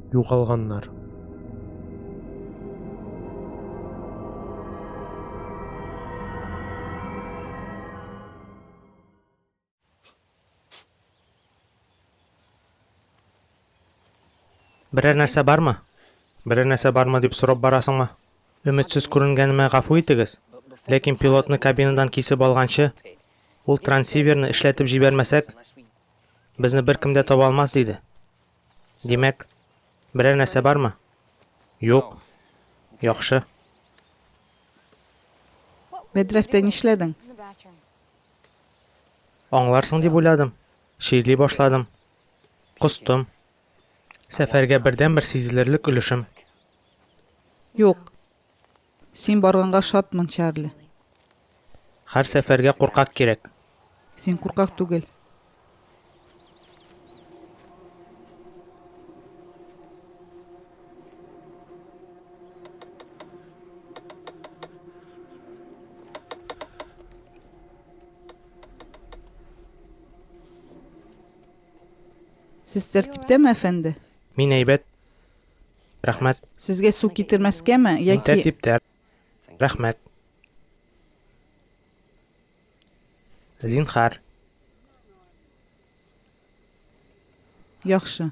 Югалганнар. Берәр нәрсә бармы? Берәр нәрсә бармы дип сорап барасыңмы? Өметсез күренгәнемә гафу итегез, ләкин пилотны кабинадан кисеп алганчы, Ул трансиверны эшләтеп җибәрмәсәк, безне беркем дә таба алмас, диде. Димәк, берәр нәрсә бармы? Юк. Яхшы. Мәдрәфтә нишләдең? Аңларсың дип уйладым. Чирли башладым. Костым. Сәфәргә бердәнбер сизелерлек өлешем. Юк. Син барганга шатмын, Чарли. Һәр сәфәргә куркак кирәк. Син куркак түгел. Сез тәртиптәме, әфәнде? Мин әйбәт. Рәхмәт. Сезгә су китермәскәме, яки? Мин тәртиптә. Рәхмәт. Зинхар. Яхшы.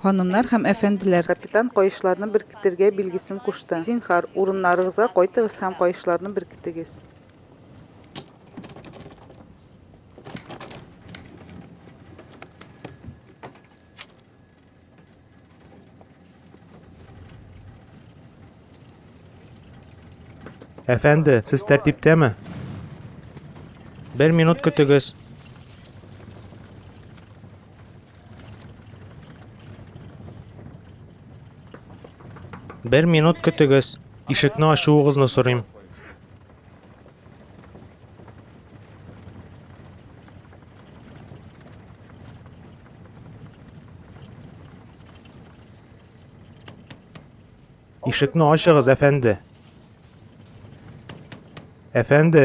Ханымнар һәм әфәнделәр, капитан каешларны беркетергә билгесен кушты. Зинхар, урыннарыгызга кайтыгыз һәм каешларны беркетегез. Әфәнде, сез тәртиптәме? Бер минут көтегез. Бер минут көтегез. Ишекне ачуыгызны сорыйм. Ишекне ачыгыз, әфәнде. Әфәнде.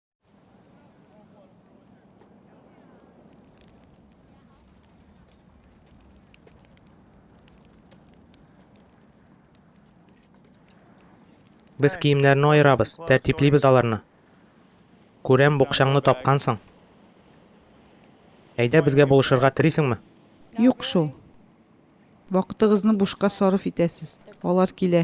Без киемнәрне аерабыз, тәртиплибез аларны. Күрәм, букчаңны тапкансың. Әйдә безгә булышырга телисеңме? Юк шул. Вакытыгызны бушка сарыф итәсез. Алар килә.